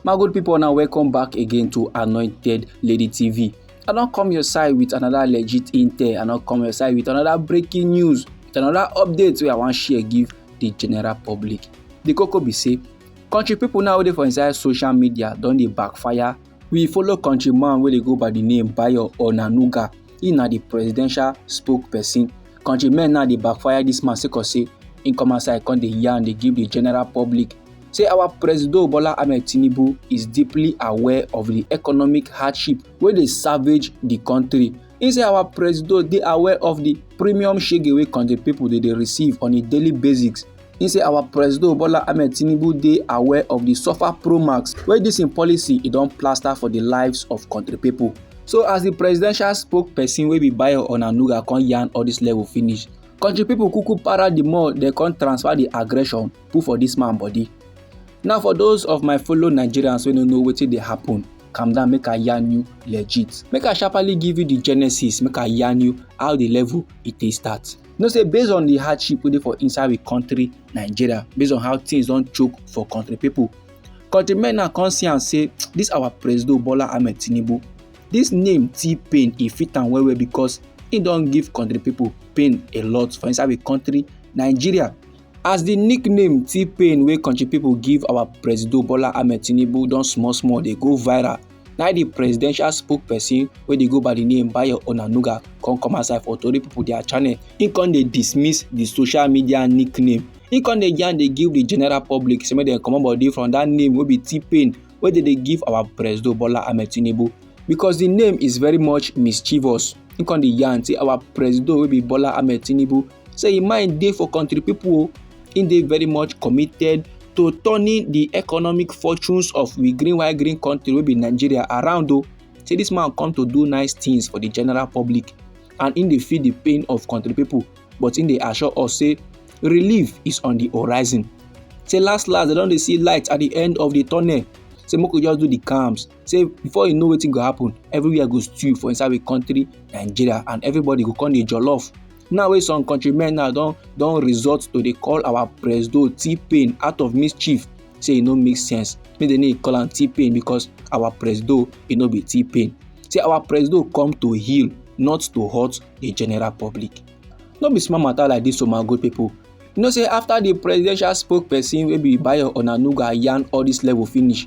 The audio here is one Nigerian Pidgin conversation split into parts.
my good people now welcome back again to anointed lady tv i don come your side with another legit intel i don come your side with another breaking news with another update wey i wan share give the general public the koko be say country people now dey for inside social media don dey backfire We follow country man wey dey go by di name Bayo Onanuga, he na di presidential spokesperson. Country men now dey backfire dis man sake of say he come outside come dey yarn dey give di general public say our presido Bola Ahmed Tinubu is deeply aware of di economic hardship wey dey savage di country. He say our presido dey aware of di premium shege wey country pipo dey dey receive on a daily basis He say our Presido Bola Ahmed Tinubu dey aware of the suffer pro max wey this im policy e don plaster for the lives of country people. So as the presidential spokesperson wey be Bayo Onanuga come yarn all this level finish, country people kuku para the more they come transfer the aggression put for this man body. Now for those of my fellow Nigerians wey no know wetin dey happen, calm down make I yarn you legit. Make I sharply give you the genesis, make I yarn you how the level e take start. You know say based on the hardship wey dey for inside we country Nigeria, based on how things don choke for country people, country men now come see am say this our President Bola Ahmed Tinubu, this name T-Pain e fit am well well because he don give country people pain a lot for inside we country Nigeria. As the nickname T-Pain wey country people give our President Bola Ahmed Tinubu don small small dey go viral na di presidential spokesperson wey dey go by di name bayo onanuga come come outside for tori pipo dia channel im come dey dismiss di social media nickname im come dey yarn dey give di general public say make dem comot body from dat name wey be t-pain wey dem dey give our presido bola ahmed tinubu because di name is very much mischievous im come dey yarn say our presido wey be bola ahmed tinubu say im mind dey for country pipo o, im dey very much committed to turning di economic fortunes of we green white green country wey be Nigeria around o. Say dis man come to do nice things for di general public and im dey feel di pain of country pipo but im dey assure us say relief is on di horizon. Say last last dem don dey see light at di end of di tunnel say make we just do di calms say before you know wetin go happen everywhere go stew for inside the country nigeria and everybody go come dey jollof now wey some countrymen now don don resort to dey call our presido t-pain out of mischief say e no make sense make dem no call am t-pain because our presido e no be t-pain say our presido come to heal not to hurt the general public no be small matter like this o my good people you know say after the presidential spokesperson wey be bayo onanuga yarn all this level finish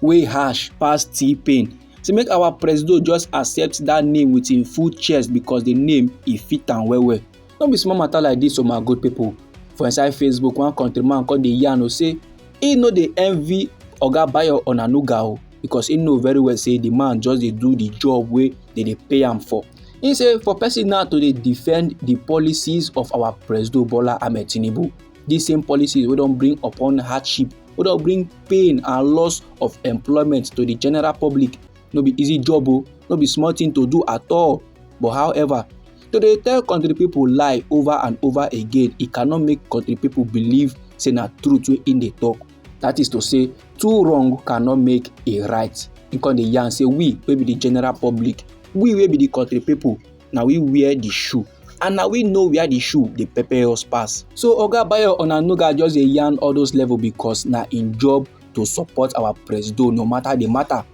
wey harsh pass T-Pain. Say make our presido just accept that name with im full chest because the name e fit am well well. No be small matter like this o oh my good people. For inside Facebook, one countryman come dey yarn o say e no dey envy Oga Bayo Onanuga o because e know very well say the man just dey do the job wey dey dey pay am for. He say for person now to dey defend the policies of our presido Bola Ahmed Tinubu These same policies will don't bring upon hardship, will don't bring pain and loss of employment to the general public. No be easy job, oh, no be small thing to do at all. But however, to dey tell country people lie over and over again e cannot make country people believe say na truth wey im dey talk that is to say two wrong cannot make a right im come dey yarn say we wey be the general public we wey be the country people na we wear the shoe and na we know where the shoe dey pepper us pass. so oga bayo onanuga just dey yarn all those level because na im job to support our presido no matter the matter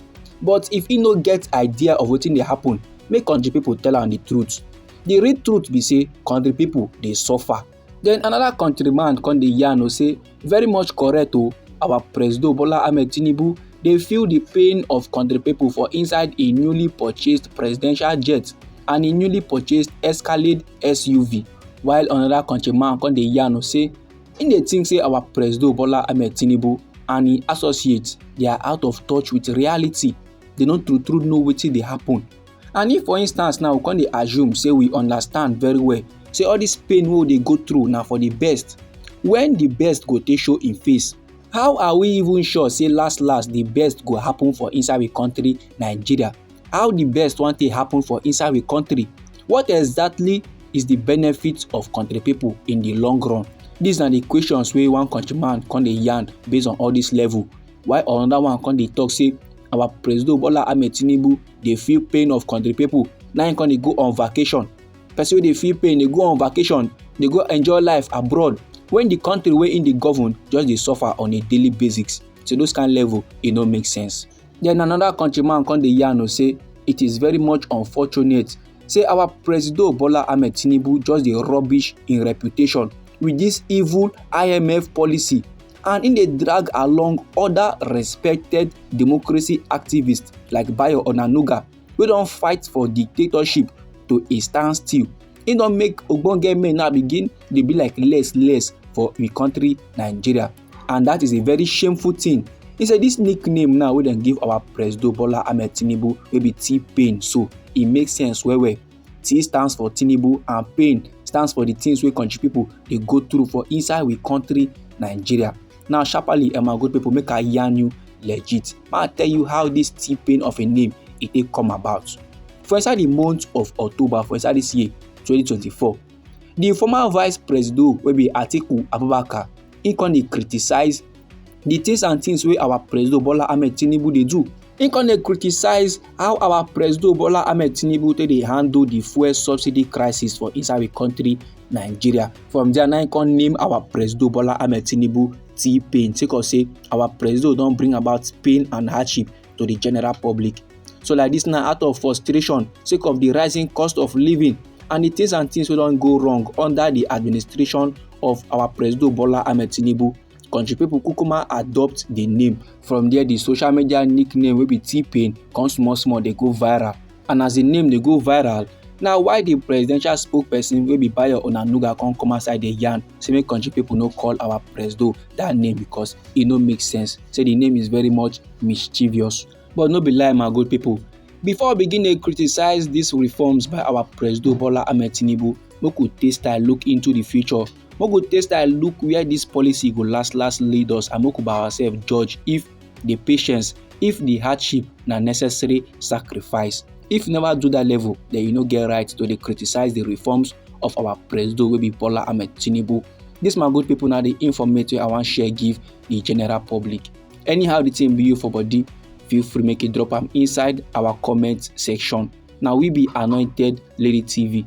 but if he no get idea of wetin dey happen make country people tell am the truth the real truth be say country people dey suffer Then another country man come dey yarn o say very much correct o our presido Bola Ahmed Tinubu dey feel the pain of country people for inside a newly purchased presidential jet and a newly purchased Escalade SUV while another country man come dey yarn o say im dey think say our presido Bola Ahmed Tinubu and im associates dey are out of touch with reality they no true true know wetin dey happen and if for instance now we come dey assume say we understand very well say all this pain wey we dey go through na for the best when the best go take show im face how are we even sure say last last the best go happen for inside we country nigeria how the best wan take happen for inside we country what exactly is the benefit of country people in the long run these na the questions wey one countryman come dey yarn based on all this level while another one come dey talk say our president bola ahmed tinubu dey feel pain of country people na him come dey go on vacation person wey dey feel pain dey go on vacation dey go enjoy life abroad when the country wey him dey govern just dey suffer on a daily basis so those kind level e no make sense then another countryman come dey yarn o say it is very much unfortunate say our president bola ahmed tinubu just dey rubbish im reputation with this evil imf policy and im dey drag along oda respected democracy activists like bayo onanuga wey don fight for dictatorship to a standstill e don make ogbonge men now begin dey be like less less for im country nigeria and that is a very shameful thing he say this nickname now wey dem give our presido bola ahmed tinubu wey be t-pain so e make sense well well T stands for Tinubu and pain stands for the things wey country people dey go through for inside we country Nigeria. Now sharply um, my good people make I yarn you legit. Make I tell you how this T pain of a name e take come about. For inside the month of October for inside this year 2024, the former vice president wey be Atiku Abubakar he come dey criticize the things and things wey our president Bola Ahmed Tinubu dey do He come dey criticize how our Presido Bola Ahmed Tinubu take dey handle the fuel subsidy crisis for inside the country Nigeria. From there, now he come name our Presido Bola Ahmed Tinubu T-Pain. Take us say our Presido don bring about pain and hardship to the general public. So like this now, out of frustration, sake of the rising cost of living and the things and things wey don go wrong under the administration of our Presido Bola Ahmed Tinubu, country people kukuma adopt the name from there the social media nickname wey be t-pain come small small dey go viral and as the name dey go viral na why the presidential spokesperson wey be bayo onanuga come come outside dey yarn say make country people no call our presido that name because e no make sense say the name is very much mischievous but no be lie my good people before we begin dey criticize these reforms by our presido bola ahmed tinubu make we take style look into the future Make we take style look where this policy go last last lead us and make we by ourselves judge if the patience, if the hardship na necessary sacrifice. If you never do that level, then you no get right to dey criticize the reforms of our president wey be Bola Ahmed Tinubu. This my good people na the informate wey I wan share give the general public. Anyhow the thing be you for body, feel free make you drop am inside our comment section. Na we be Anointed Lady TV.